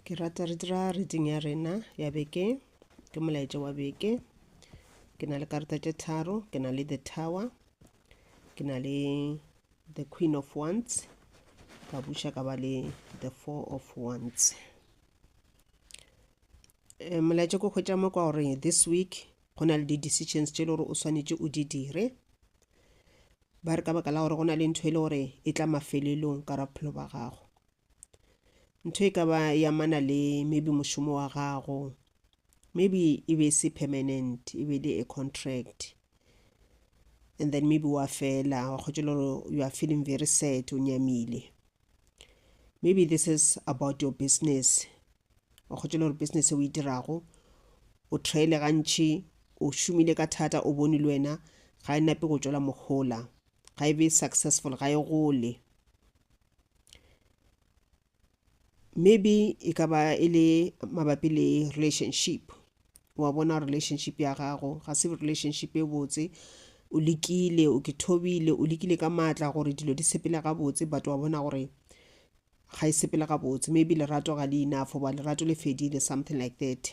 Ke rata re dira reading ya rena ya beke ke molaetša wa beke ke na le karata tše tharo ke na le the tower ke na le the queen of wands ka buša ka ba le the four of wands eh, molaetša ko hwetša mo kwa gore this week go na le di-decisions tše e le gore o swanetše o di dire ba re ka baka la gore go na le ntho e le gore e tla mafelelong ka ra bophelo ba gago ntho e ka ba ya mana le maybe mošomo wa gago maybe e be se permanent e be le a contract and then maybe wa fela wa kgotse le gore you are feeling very sad o nyamile maybe this is about your business wa kgotse le gore business e o e dirago o traile gantši o šomile ka thata o bone le wena ga e nape go tšwela mogola ga e be successful ga e gole maybe e ka ba e le mabapi le relationship wa bona relationship ya gago ga se relationship e botse o lekile o ke thobile o lekile ka maatla gore dilo di sepele gabotse but wa bona gore ga e sepele gabotse maybe lerato ga le enough goba lerato le fedile something like that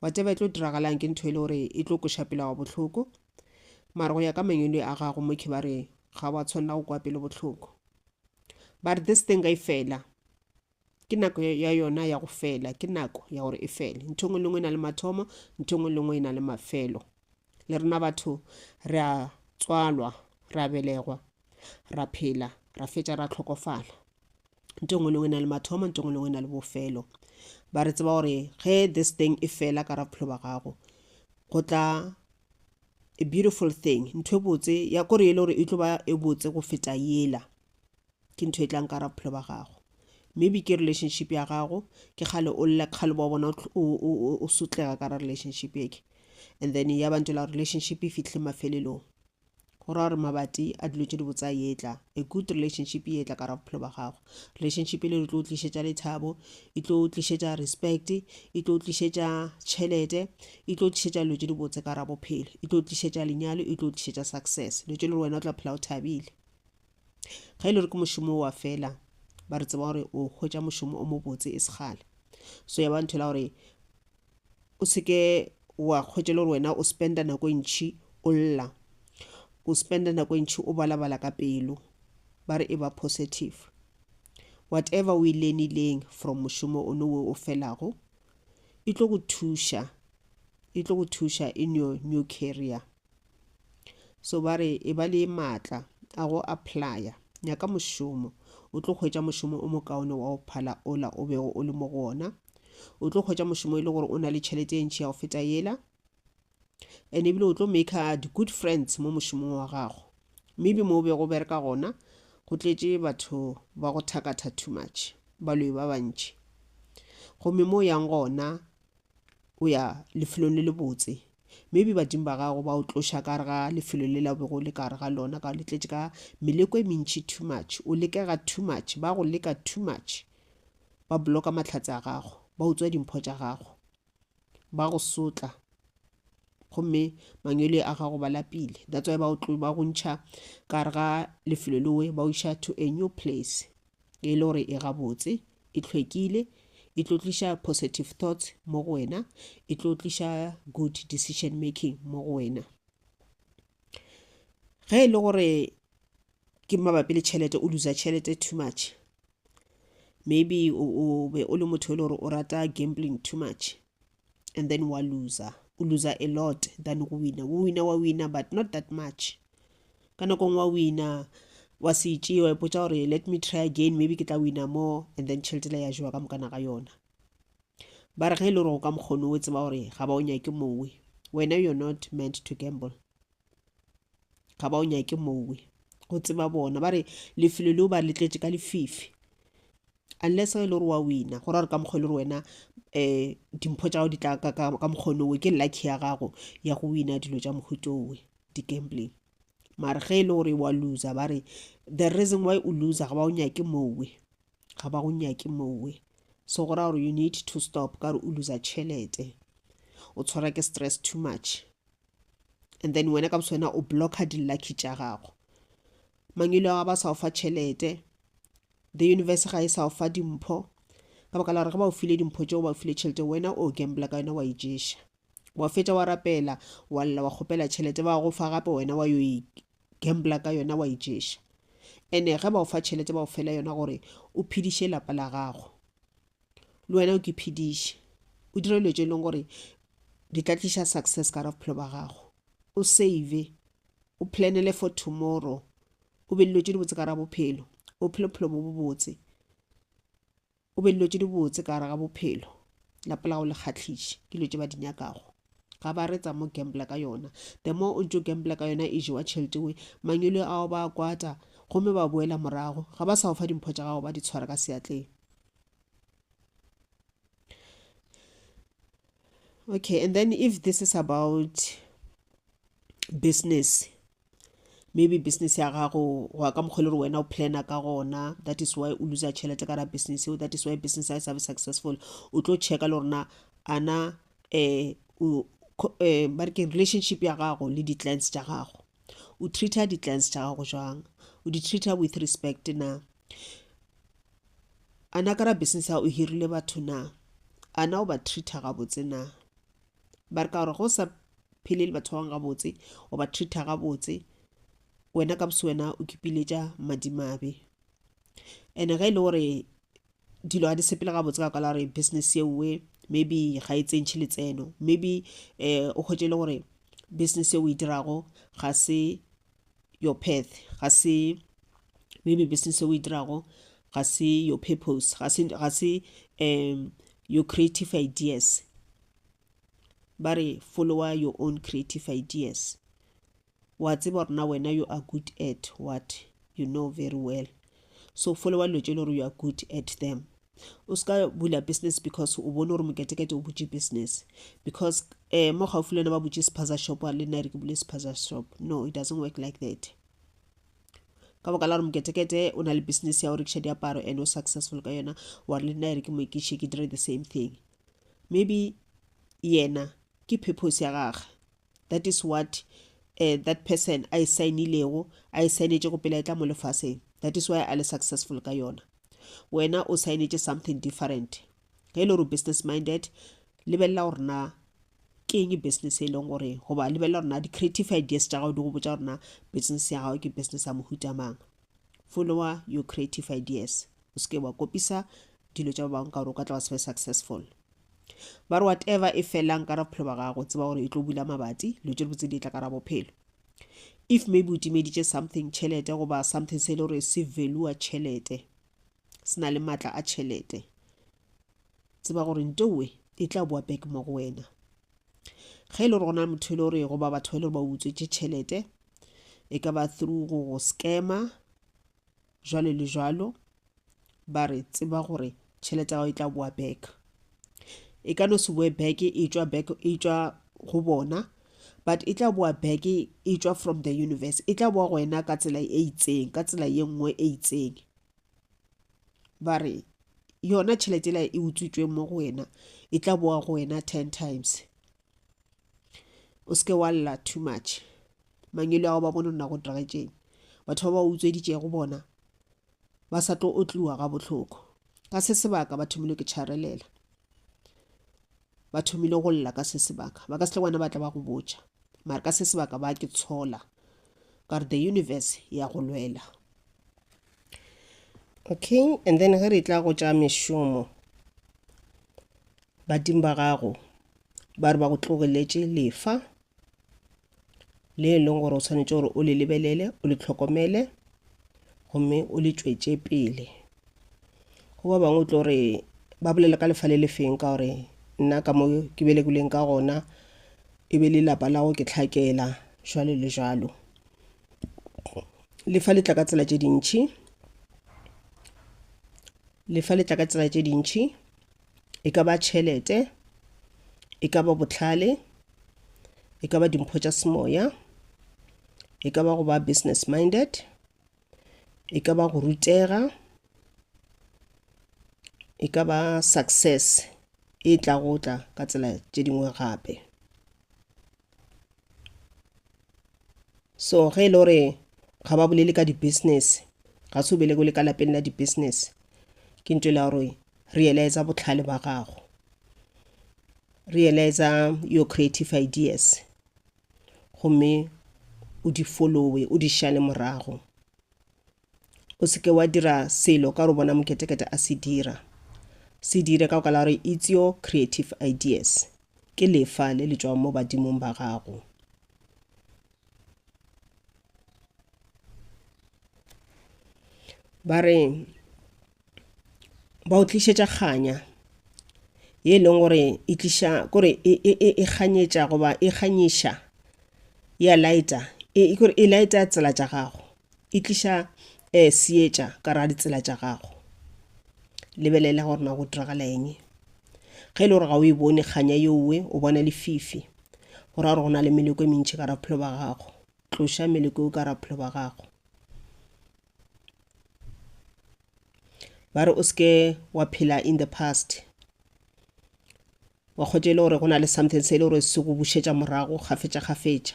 wa teba e tlo diragalang ke ntho e le gore e tlo koša pela wa bohloko mara go ya ka mangwele a gago mokhi ba re ga wa tshwanela go kwa pele bohloko ba re this thing ga e fela ke nako ya yona ya go fela ke nako ya gore e fele ntho ngwe le ngwe e na le mathomo ntho ngwe le ngwe e na le mafelo le rena batho re a tswalwa re a belegwa ra phela ra fetša ra tlhokofala nto ngwe le ngwe na le mathomo nto ngwe le ngwe na le bofelo ba re tseba gore ge this thing e fela ka ra bophelo ba gago go tla a beautiful thing ntho e botse ya kore e le gore e tlo ba e botse go feta yela ke ntho e tlang ka ra bophelo ba gago maybe ke relationship ya gago ke kgale o lle kgale ba bona o sotlega ka ra relationship eke and then ya bantse la relationship e fitlhe mafelelong go ra gore mabati a dilo tse di botsa etla a good relationship e etla ka ra bophelo ba gago relationship e le re tlo tlišetša lethabo e tlo tlišetša respect e tlo tlišetša tšhelete e tlo tlišetša dilo tse di botse ka ra bophelo e tlo tlišetša lenyalo e tlo tlišetša success dilo tse le wena o tla phela o thabile ga e le gore ke mošomo wa fela ba re tseba gore o hwetša mošomo o mobotse e segale so ya ba ntho la gore o seke wa kgwetša le gore wena o spenda nako e ntšhi o lla o spenda nako e ntšhi o balabala ka pelo ba re e ba positive whatever o e lenileng from mošomo o nowe o felago e tlo go thuša e tlo go thuša in your new career so ba re e ba le maatla a go applya nyaka mošomo o tlo hwetša mošomo o mokaone wa go phala ola o bego o le mo go ona o tlo hwetša mošomo e le gore o na le tšhelete e ntši ya go feta yela and ebile o tlo maker di-good friends mo mošomong wa gago maybe mo o bego o bereka gona go tletše batho ba go thakatha too much baloyi ba bantši gomme mo o yang gona o ya lefelong le lebotse maybe badimo ba gago ba o tloša ka re ga lefelo le la o bego o le ka re ga lona ka o letletše ka meleko e mentši too much o lekega too much ba go leka too much ba bloka mahlatse a gago ba utswa dimpho tša gago ba go sotla gomme mangwele a gago ba lapile that's why ba o tlo ba go ntšha ka re ga lefelo lewe ba o iša to a new place e le gore e gabotse e hlwekile e tlo tliša positive thoughts mo go wena e tlo tliša good decision making mo go wena ge e le gore ke mabapi le tšhelete o losa tšhelete too much maybe o be o le motho e le gore o rata gambling too much and then wa loser o loser a lot than go wina o wina wa wina but not that much ka nakong wa wina wa se itšee wa ipotsa gore let me try again maybe ke tla wina more and then tšheletela ya jewa ka mokana ga yona ba re ge e le gore o ka mokgono o tseba gore ga ba o nyake mowe wena you're not meant to gamble ga ba o nyake mowe go tseba bona ba re lefelo leo ba letletše ka lefifi unless ga e le gore wa wina go ra gore ka mokgwa e le gore wena um dimpho tša gago di tla ka ka- ka mokgono owe ke lucky ya gago ya go wina dilo tša mohuto owe di-gambling mare ge e le gore wa loser ba re the reason why o loser ga ba o nyake mowe ga ba go nyake mowe so go ra gore you need to stop ka gore o loser tšhelete o tshwara ke stress too much and then wena ka boso wena o blocka di-lucky tša gago mangwelo a ba sa o fa tšhelete The universe ga e sa o fa dimpho ka baka la gore ge ba o file dimpho tšeo ba o file tšhelete wena o gambla ka yona wa e ješa wa fetša wa rapela wa lla wa kgopela tšhelete ba go fa gape wena wa yo e gambla ka yona wa e ješa ene ge ba o fa tšhelete ba o fela yona gore o phediše lapa la gago le wena o ke phediše o dire dilo tše e leng gore di tla tliša success ka ra bophelo ba gago o save o planele for tomorrow o be dilo tše dibotse ka ra bophelo o phele bophelo bo bobotse o be dilo tše dibotse ka raga bophelo lapa la go le kgatlhiše ke dilo tše ba di nyakago ga ba re tsa mo gambla ka yona the more o ntse o gambla ka yona e jewa tšhelete we mangwele ao ba kwata gomme ba boela morago ga ba sa go fa dimpho tša gago ba di tshwara ka seatleng okay and then if this is about business maybe business ya gago go ya ka mokgwa le gore wena o plana ka gona that is why o loser tšhelete ka ra business eo that is why business ya sabe successful o tlo checka le gorena ana um um eh, ba re ke relationship ya gago le di-clients tša gago o treater di-clients tša gago jwang o di-treater with respect na A na ka ra business ya o hirile batho na? A na o ba treater gabotse na? Ba re ka gore go sa phele le batho ba bangwe gabotse o ba treater gabotse wena ka bose wena o kipiletša madimabe ene ge e le gore dilo ga di sepele gabotse ka kwala gore business yeowe maybe ga e tsentšhe letseno maybe um o kgwetse le gore business e o e dirago ga se your path ga se maybe business e o e dirago ga se your purpose ga se ga se um your creative ideas ba re follower your own creative ideas wa tseba gore na wena you are good at what you know very well so follower dilo tse e le gore you are good at them o ska bula business because o bone gore moketekete o butše business because um mo gaufi le wena ba butše sephaza shop a le nna re ke bule sephaza shop no it doesn't work like that ka boka la gore moketekete o na le business ya go rekiša diaparo and o successful ka yona wa re le nna re ke moekiše ke dire the same thing maybe yena ke purpose ya gage that is what uh, that person a e sainilego a e sainetšego pele a e tla mo lefaseng that is why a le successful ka yona wena o sainetše something different ge e le gore business minded lebelela gore na ke eng business e leng gore goba lebelela gore na di-creative ideas tša gago di go botsa gore na business ya gago ke business ya mohuta mang Follower your creative ideas. O se ke wa kopisa dilo tša ba bangwe ka gore o ka tla wa se be successful. Ba re whatever e felang ka ra bophelo ba gago, tseba gore e tlo bula mabati, dilo tše dibotse di tla ka ra bophelo. If maybe o timeditše something tšhelete goba something se e le gore se valua tšhelete, se na le maatla a tšhelete, tseba gore ntowe e tla boa back mo go wena. ge e le gore go na motho e le gore goba batho ba e le gore ba utswetse tšhelete e ka ba through go go scammer jwalo le jwalo ba re tseba gore tšhelete ya gago e tla boa back e ka no se boe back e tšwa back e tšwa go bona but e tla boa back e tšwa from the universe e tla boa go wena ka tsela e itseng ka tsela ye nngwe e itseng ba re yona tšhelete la e utswitsweng mo go wena e tla boa go wena ten times o seke wa lla too much mangelo ao ba bone nna go diregetšeng batho ba ba utsweditšego bona ba sa tlo otliwa ga bohloko ka se sebaka ba thomile ke tšharelela ba thomile go lla ka se sebaka ba ka sele gona ba tla ba go botša mare ka se sebaka ba ke tshola ka re the universe ya go lwela okay and then ge re tla go tša mešomo badimo ba gago ba re ba go tlogeletše lefa le e leng gore o tshwanetse gore o le lebelele o le tlhokomele gomme o le tšwetše pele go ba bangwe tlo re ba bolela ka lefa le le feng ka gore nna ka mo ke belekileng ka gona e be le lapa la go ke tlhakela jalo le jalo lefa le tla ka tsela tše dintšhi lefa le tla ka tsela tše dintšhi E ka ba tšhelete, e ka ba bohlale, e ka ba dimpho tša semoya, e ka ba go ba business minded, e ka ba go rutega, e ka ba success e tla go tla ka tsela tše dingwe gape. so ge e le gore ga ba bolele ka di-business ga se o bele le ka lapeng la di-business ke ntho e le gore realize botlhale ba gago realize your creative ideas gomme o di followe o di šale morago o se ke wa dira selo ka gore bona moketekete a se dira se dire ka go kala gore it's your creative ideas ke lefa le le tšwago mo badimong ba gago ba re ba o tlišetša kganya ye e leng gore e tliša kore e, e, e, e kganyetša goba e kganyiša ya laeta e, e kore e laeta tsela tša gago e tliša um seetša ka ra ditsela tša gago lebelela gore na go diragala eng ge e le gore ga o e bone kganya yeowe o bona lefifi go ra gore go na le meleko e mentši ka raphelo ba gago tloša meleko eo ka raphelo ba gago ba re o seke wa phela in the past wa kgotse e le gore go na le something se e le gore se go bušetša morago gafetša gafetša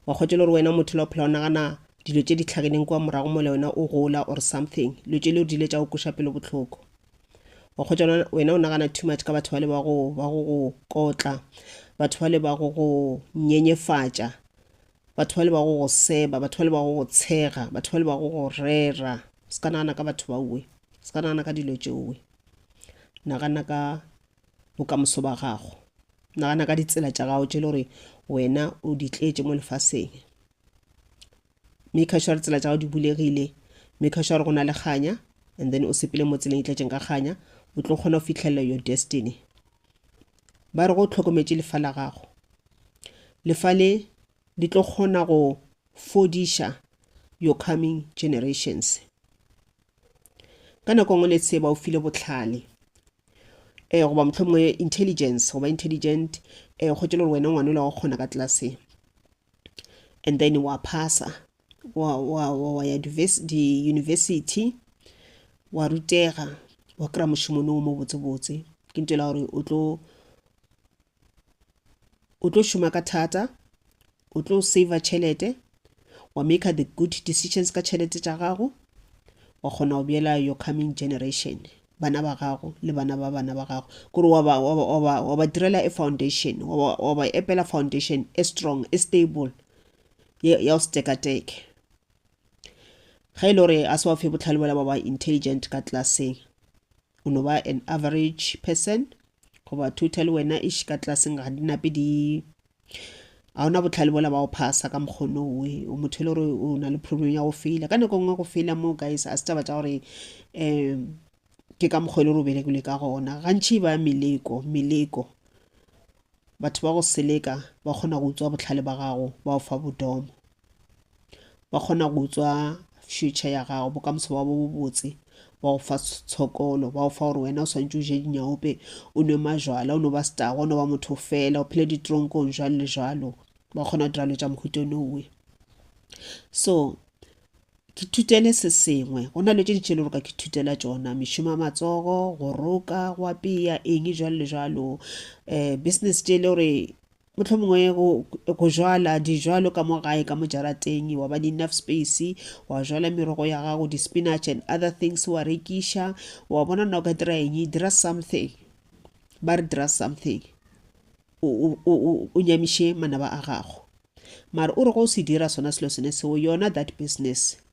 wa kgotse e le gore wena motho la o phela o nagana dilo tše di tlhakeneng kwa morago mo le wena o gola or something dilo tše le o dile tša o koša pelo bohloko wa kgotsa wena o nagana too much ka batho ba le ba go ba go go kotla batho ba le ba go go nyenyefatša Batho bale ba go go seba, batho bale ba go go tshega, batho bale ba go go rera. O se ka nagana ka batho baowe, o se ka nagana ka dilo tšeowe. Nagana ka bokamoso ba gago, nagana ka ditsela tša gago tše le gore wena o di tletše mo lefaseng. Maker sure gore tsela tša gago di bulegile, maker sure gore go na le kganya, and then o sepele mo tseleng e tletšeng ka kganya, o tlo kgona go fitlhelela your destiny. ba re go hlokometše lefa la gago lefa le di tlo kgona go fodiša your coming generations ka nako nngwe le se ba o file botlhale um goba mohlomongwe intelligence goba intelligent um kgotse le gore wena ngwane o la go kgona ka tlelaseng and then wa phasa wa, wa, wa, wa ya di-university wa rutega wa kry-a mošomo no mo botsebotse ke nto la gore o tlo o tlo šoma ka thata o tlo saver tšhelete wa make the good decisions ka tšhelete tša gago wa kgona go bjela your coming generation bana ba gago le bana ba bana ba gago kore wa ba, wa ba, wa ba, wa ba direla e foundation wa ba, wa ba epela foundation e strong e stable ya ya go se tekateke ge e le gore a se wa fe botlhale bola ba ba intelligent ka tlaseng o no ba an average person goba total wena ish ka tlaseng ga di nape di a ona botlhale bola ba o phasa ka mokgono we o motho le gore o na le problem ya go fela ka nako nngwe go fela mo guys a se taba tša gore um ke ka mokgwa e le gore o belekile ka gona gantši ba meleko meleko batho ba go seleka ba kgona go utswa botlhale ba gago ba o fa bodomo ba kgona go tswa future ya gago bokamoso ba bo bobotse ba go fa tshokolo ba go fa gore wena o swantse o je dinyaope o nwe majwala o no ba setago o no ba motho fela o phele ditronkong jalo le jalo ba kgona go dira lo tša mohuto nowe so ke thutele se sengwe go na le tše ditšhele gore ka ke thutela tšona mešomo ya matsogo go roka go apeya eng jalo le jalo um business tše e le gore Mohlomongwe go, go jwala dijwalo ka mo gae ka mo jarateng, wa ba le enough space, wa jwala merogo ya gago, di-spinach and other things, wa rekiša, wa bona na o ka dira eng, dira something. Ba re dira something. O, o, o, o, o nyamiše manaba a gago. Mara o re go o se dira sona selo sene seo, yona that business,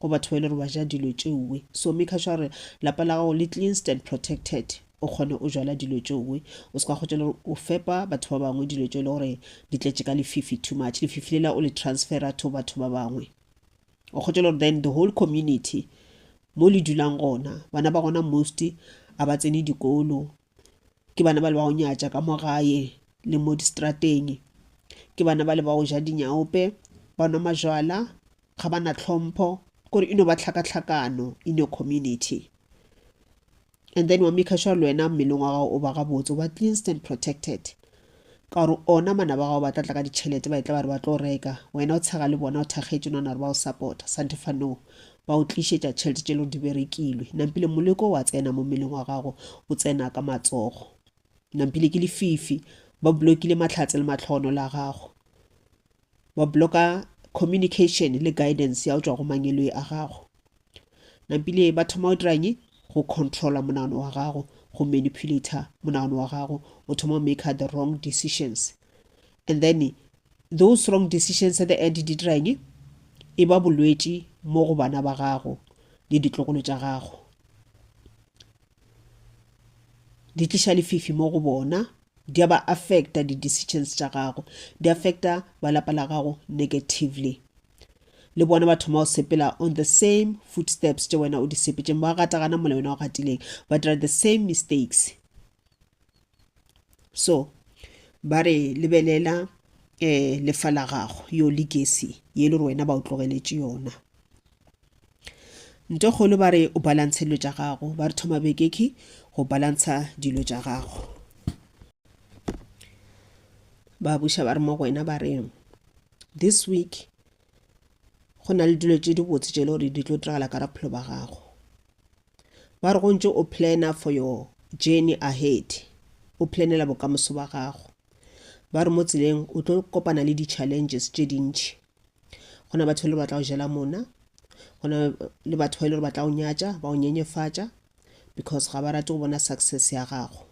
go batho ba e le gore ba ja dilo tšeoe. So maker sure gore lapa la gago le cleansed and protected o kgone o jala dilo tšeoe. O se ka kgotša le gore o fepa batho ba bangwe dilo tšeo e le gore di tletše ka lefifi too much, lefifi lela o le transfera to batho ba bangwe. O kgotša le gore then the whole community mo le dulang gona, bana ba gona most a ba tsene dikolo, ke bana ba le ba go nyatša ka mo gae le mo distrateng ke bana ba le ba go ja dinyaope ba nwa majwala ga ba na tlhompho kore e no ba tlhakatlhakano in your community and then wa make sure le wena mmeleng wa gago o ba gabotse o ba cleansed and protected Ka gore ona manaba a gago ba tla tla ka ditšhelete, ba etla ba re ba tlo reka, wena o tshega le bona, o thakgetše nwana gore ba o sapota, santhe fa no ba o tlišetša tšhelete tše lego di berekilwe. Nampile, moleko o a tsena mo mmeleng wa gago, o tsena ka matsogo. Nampile, ke lefifi, ba blokile mahlatse le mahlogonolo a gago. wa bloka communication le guidance ya go tšwa go mangeloi a gago nampile ba thoma go diranye go controla monagano wa gago go manipulator monagano wa gago o thoma make the wrong decisions and then those wrong decisions at the end di diranye e ba bolwetši mo go bana ba gago le ditlogolo tša gago di tliša lefifi mo go bona Di a ba affecta di decisions tša gago. Di affecta ba lapa la gago negatively. Le bona ba thoma go sepela on the same footsteps tše wena o di sepetšeng. Ba gata gana mola wena o gatileng. Ba dira the same mistakes. So, ba re lebelela eh lefa la gago yo legacy ye le gore wena ba o tlogeletše yona. Ntekgolo ba re o balantshe dilo tša gago. Ba re thoma bekeki go balantsha dilo tša gago. Ba buša ba re mo go wena ba re this week go na le dilo tše dibotse tše e le gore di tlo diragala ka raphelo ba gago ba re go ntse o planner for your journey ahead o planela bokamoso ba gago ba re mo tseleng o tlo kopana le di-challenges tše dintši go na batho e le ba tla go jela mona go na le batho ba e le gore ba tla go nyatša ba go nyenyefatša because ga ba rate go bona success ya gago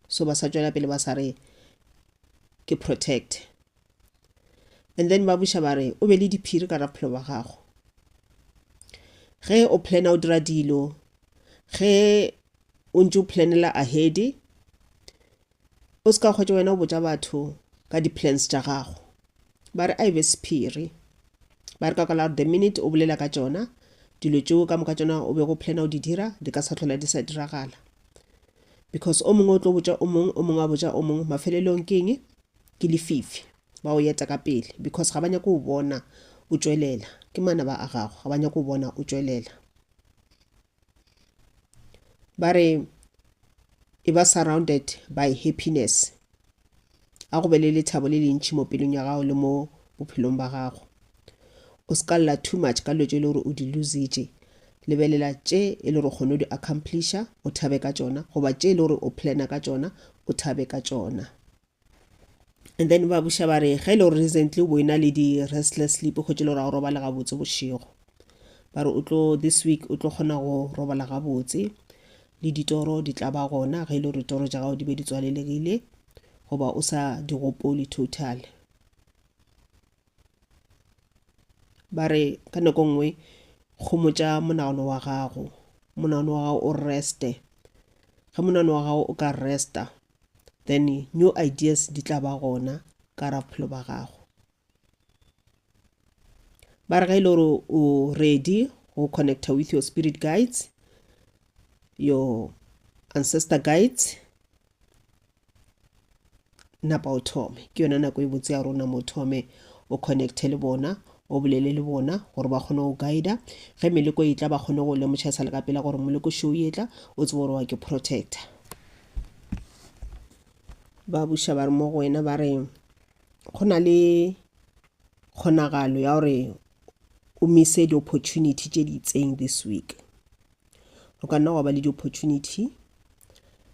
so ba sa tšwela pele ba sa re ke protect and then ba buša ba re o be le diphiri ka raphelo ba gago ge o plana o dira dilo ge o ntse o planela ahedi O se ka hwetša wena o botša batho ka di-plans tša gago. Ba re a e be sephiri. Ba re ka kwala gore the minute o bolela ka tšona, dilo tšeo ka moka tšona o be go plana o di dira, di ka sa tlhola di sa diragala. Because o mongwe o tlo botša o mongwe, o mongwe a botša o mongwe, mafelelong ke eng? Ke lefifi. Ba o yeta ka pele because ga ba nyake o bona o tšwelela. Ke manaba a gago, ga ba nyake o bona o tšwelela. ba re e ba surrounded by happiness a go be le lethabo le lentši mo pelong ya gago le mo bophelong ba gago o se ka lla too much ka dilo tše e le gore o di lositše lebelela tše e le gore kgone o di accomplisha o thabe ka tšona goba tše e le gore o plana ka tšona o thabe ka tšona and then ba buša ba re ge e le gore recently o bo e na le di-restless sleep o kgwetse le gore ga o robale gabotse bošego ba re o tlo this week o tlo kgona go robala gabotse le ditoro di tla ba gona ge e le gore ditoro tša gago di be di tswalelegile goba o sa di gopole total ba re ka nako nngwe gomotša monagano wa gago monagano wa gago o reste ge monagano wa gago o ka resta then new ideas di tla ba gona ka ra bophelo ba gago ba re ga e le gore o ready go connecta with your spirit guides your ancestor guides napa o thome ke yone nako e botse ya gore o nama o thome o connecte le bona o bolele le bona gore ba kgone go guida ge meleko e tla ba kgone go lemoša sa le ka pela gore moleko show e tla o tsebo gore wa ke protector ba buša ba re mo go wena ba re go na le kgonagalo ya gore o mise di-opportunity tše di itseng this week go ka nna gwa ba le di-opportunity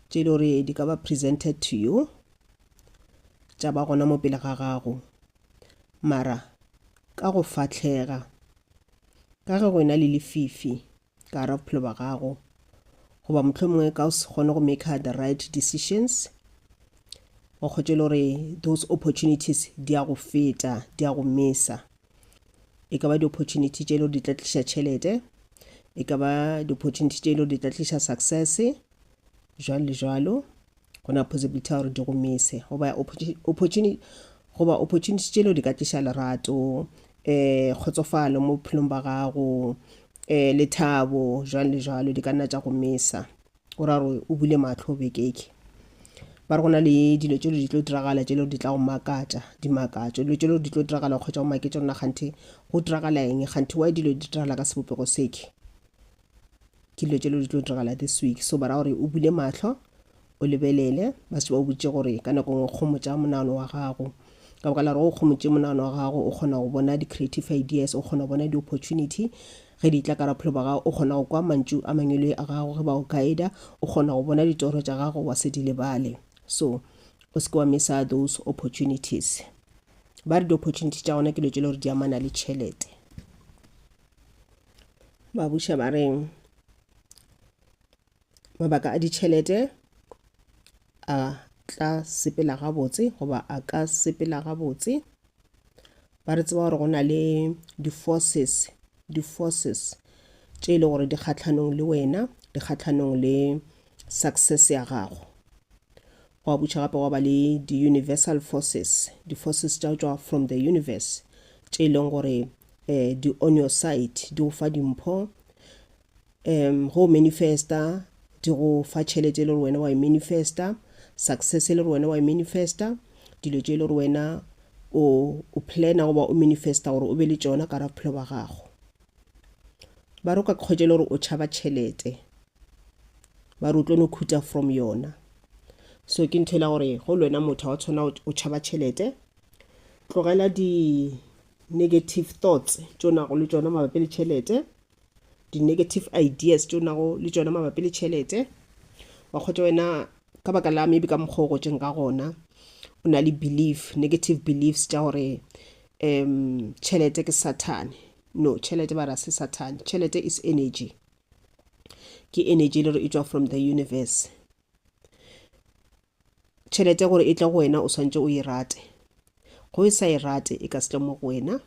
tše e le gore di ka ba presented to you tša ba gona mo pele ga gago mara ka go fahlega ka ge go ena le lefifi ka gare bophelo ba gago goba mohlomongwe ka o se kgone go make the right decisions o kgotše le gore those opportunities di ya go feta di ya go mesa e ka ba di-opportunity tše e le gore di tla tliša tšhelete e ka ba di-opportunity tše e le gore di tla tliša success jwalo le jwalo go na possibility ya gore di go mise goba opportunity goba opportunity tšelo di ka tliša lerato um kgotsofalo mo bophelong ba gago um lethabo jwalo le jwalo di ka nna tša go misa o ra gore o bule matlho o bekeke ba re go na le dilo tšelo di tlo diragala tšelo di tla go makatša dimakatšo dilo tšelo di tlo diragala kgotsa o make tsona ganthe go diragala eng ganthe wa dilo di diragala ka sebopego seke ke dilo tše le di tlo diragala this week so bara gore o bule mahlo o lebelele ba se ba o botse gore ka nako ngwe kgomo tša monagano wa gago ka boka la gore o kgomotse monagano wa gago o kgona go bona di-creative ideas o kgona go bona di-opportunity ge di tla ka raphelo ba gago o kgona go kwa mantšu a mangwelwe a gago ge ba o guida o kgona go bona ditoro tša gago wa se di lebale so o seke wa misa those opportunities ba re di-opportunity tša gona ke lo tšele gore di amana le tšhelete ba buša ba reng mabaka a ditšhelete a tla sepela gabotse goba a ka sepela gabotse ba re tseba gore go na le di-forces di-forces tše e le gore di kgatlhanong le wena di kgatlhanong le success ya gago gwa butšha gape gwa ba le di-universal forces di-forces tša tšwa from the universe tše e leng gore um di-oneosite di go fa dimpho um ge o manifesta di go fa tšhelete e le gore wena wa e manifesta success e le gore wena wa e manifesta dilo tše e le gore wena o o plana goba o manifesta gore o be le tšona ka ra bophelo ba gago ba re o ka kgwetša e le gore o tšhaba tšhelete ba re o tlo no khuta from yona so ke ntho e la gore go le wena motho wa tshwana o tšhaba tšhelete tlogela di Negative thoughts tše o nago le tšona mabapi le tšhelete. Di-negative ideas tše o nago le tšona mabapi le tšhelete. Wa kgwetša wena ka baka la maybe ka mokgwa o gotšeng ka gona o na le belief, negative beliefs tša gore um tšhelete ke sathane no tšhelete ba ra se sathane tšhelete is energy ke energy e le gore e tšwa from the universe Tšhelete gore e tle go wena o swantše o e rate. Go e sa e rate e ka se tle mo go wena.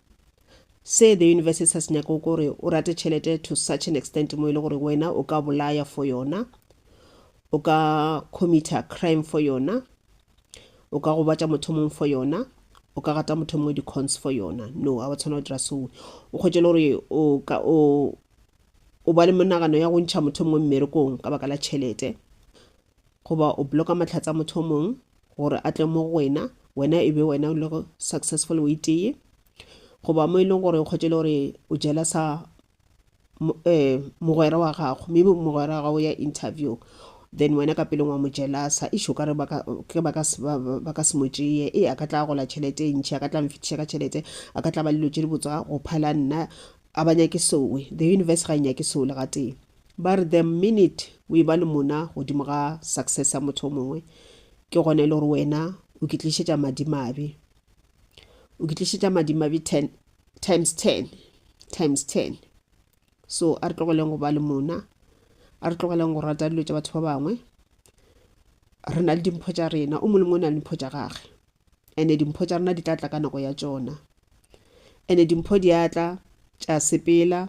Se the university sa se nyako gore o rate tšhelete to such an extent mo e le gore wena o ka bolaya for yona, o ka committer crime for yona, o ka gobatša motho mong for yona, o ka gata motho mongwe di-cons for yona. No, a wa tshwana go dira sowe. O kgwetše le gore o ka o o ba le monagano ya go ntšha motho mongwe mmerekong ka baka la tšhelete goba o bloka mahlatse a motho o mong gore a tle mo go wena wena e be wena o le go successful o iteye goba mo e leng gore o kgotše le gore o jela sa um mogwera wa gago mme mogwera wa gago ya interview then wena ka pelong wa mo jelasa e šo ka re ba ka se mo tšeye e a ka tla gola tšhelete e ntšhi a ka tla mfetiša ka tšhelete a ka tla ba lelo tše di botswa go phala nna a ba nyake sowe the universe ga e nyake sowe le gatee Ba re the minute o eba le mona godimo ga success ya motho o mongwe, ke gona e le gore wena o ke tlišetša madimabe. O ke tlišetša madimabe ten, times ten, times ten. So a re tlogeleng go ba le mona, a re tlogeleng go rata dilo tša batho ba bangwe. Re na le dimpho tša rena, o molemo o na le dimpho tša gage. ene dimpho tša rena di tla tla ka nako ya tšona ene dimpho di a tla tša sepela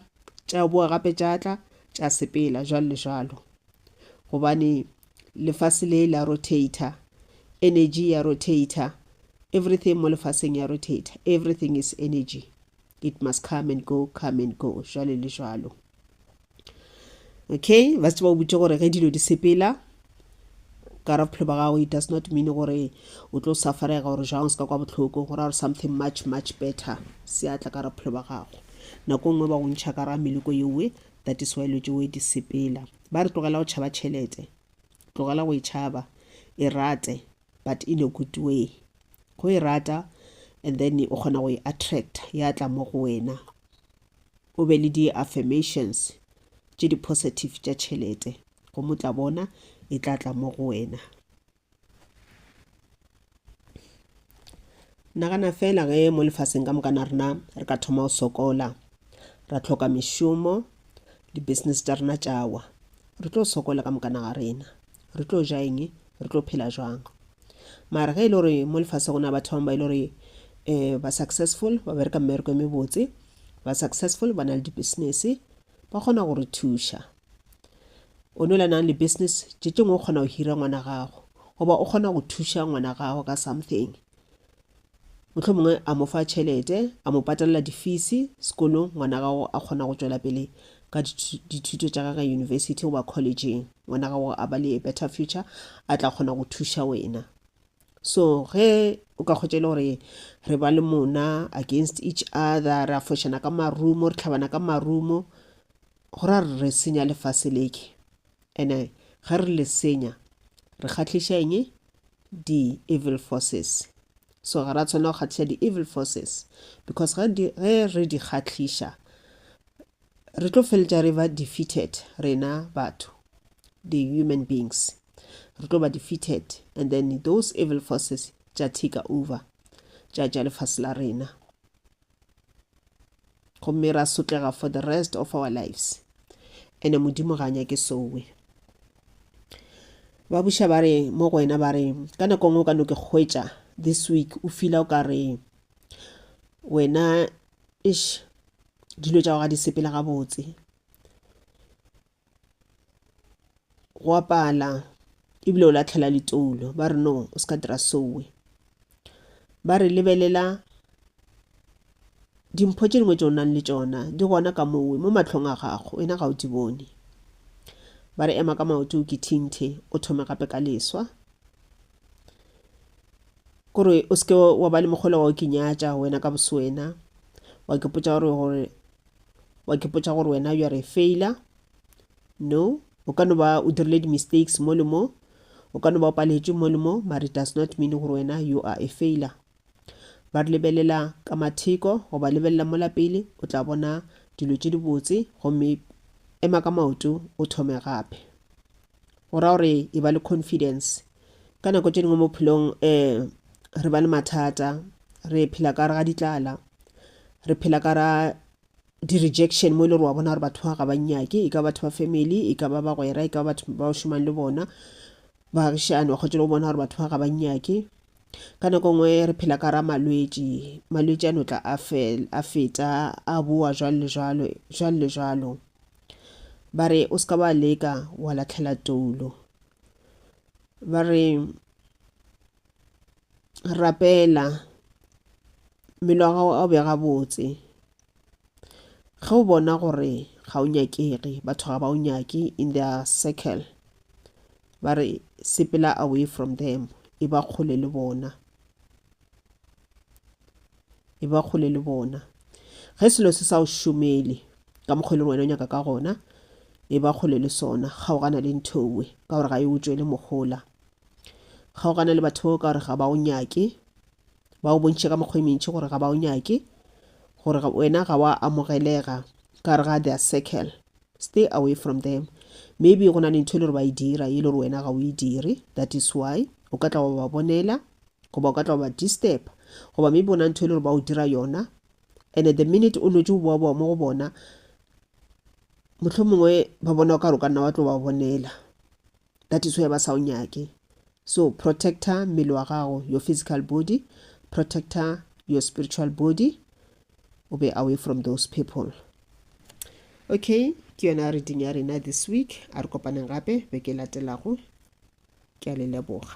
tša boa gape tša tla tša sepela jalo le jalo gobane lefase le la rotator energy ya rotator everything mo lefaseng ya rotator everything is energy it must come and go come and go jalo le jalo okay ba se ba o botse gore ge dilo di sepela ka ra bophelo ba gago it does not mean gore o tlo safarega gore jang o se ka kwa botlhoko gore are something much much better se atla ka ra bophelo ba gago nako nngwe ba go ntšha ka ra meleko yeowe that is why lotse we di sepela ba re tlogela go tšhaba tšhelete tlogela go e tšhaba e rate but in a good way go e rata and then o kgona go e attract ya tla mo go wena o be le di-affirmations tše di-positive tša tšhelete go mo tla bona e tla tla mo go wena nagana fela ge mo lefaseng ka mokana rena re ka thoma go sokola ra tlhoka mešomo di-business tša rena tšawa re tlo sokola ka mokana ga rena re tlo ja eng Re tlo phela jwang? Mara ge e le gore mo lefase go na batho bangwe ba e le gore um ba successful ba bereka mmereko e mebotse ba successful ba na le di-business ba kgona go re thuša o ne o le nang le business tše tšengwe o kgona go hira ngwana gago goba o kgona go thuša ngwana gago ka something Mohlomongwe a mo fa tšhelete, a mo patalela difisi sekolong, ngwana gago a kgona go tšwela pele ka dithuto tša gage yunibesithi goba kholejeng, ngwana gago a ba le a better future, a tla kgona go thuša wena. So ge o ka kgwetša e le gore re ba le mona against each other, ra fošana ka marumo, re tlhabana ka marumo, go ra re senya lefase leke. Ene ge re le senya, re kgahliša eng? Di-evil forces. So ga ra tshwanela go kgahliša di-evil forces because ge, di, ge re di kgahliša re tlo feletša re ba defeated rena batho the human beings re tlo ba defeated and then those evil forces tša take over tša tša lefase la rena gomme ra sotlega for the rest of our lives ene modimo ga a nyake sowe ba buša ba re mo go wena ba re ka nako ngwe o ka no ke hwetša this week o fila o ka re wena ish dilo tša go ga di sepela gabotse go a pala ebile o latlhela litoulo ba re no o se ka dira sowe ba re lebelela dimpho tše dingwe tše o nang le tšona di gona ka mowe mo matlhong a gago wena ga o di bone ba re ema ka maoto o kithinthe o thome gape ka leswa kore o seke wa ba le mogolo wa o kinyatša wena ka boswena wa ke potša gore gore wa ke potsa gore wena you are a failure no o ka no ba o dirile di-mistakes mo le mo o ka no ba o paletše mo le mo but it does not mean gore wena you are a failure ba re lebelela ka matheko goba lebelela mola pele o tla bona dilo tše dibotse gomme ema ka maoto o thome gape go ra gore e ba le confidence ka nako tše dingwe mo phelong um eh, re ba le mathata re phela ka re ga ditlala re phela ka ra di-rejection mo e le gore wa bona gore batho ba ga ba nyake e ka batho ba family e ka ba bagwera e ka ba batho ba o šomang le bona baagišane wa kgotse le go bona gore batho ba ga ba nyake ka nako nngwe re phela ka ra malwetši malwetši a no tla a feta a boa jalo le jalo jalo le jalo Ba re, O se ka wa leka wa latlhela toulo. Ba re, Rapela, mmele wa gago a o be gabotse. Ge o bona gore ga o nyakege, batho ga ba o nyake in their circle, ba re, sepela away from them, e ba kgole le bona. e ba kgole le bona ge selo se sa o šomele ka mokgwa e leng wena o nyaka ka gona e ba kgole le sona kgaogana le nthowe ka gore ga e o tšwele mogola kgaogana le batho ka gore ga ba o nyake ba o bontšhe ka mokgwa e mentši gore ga ba o nyake gore wena ga wa amogelega ka re ga their circle Stay away from them. Maybe go na le ntho e le gore ba e dira ye le gore wena ga o e dire. That is why o ka tla wa ba bonela goba o ka tla wa ba disturb goba maybe go na ntho e le gore ba o dira yona and the minute o nwetše go boa boa mo go bona mohlomongwe ba bona o ka re o ka nna wa tlo ba bonela that is why ba sa o nyake so protecta mmele wa gago your physical body protecta your spiritual body o be away from those people okay ke yona reading ya rena this week a re kopaneng gape beke e latelago ke a le leboga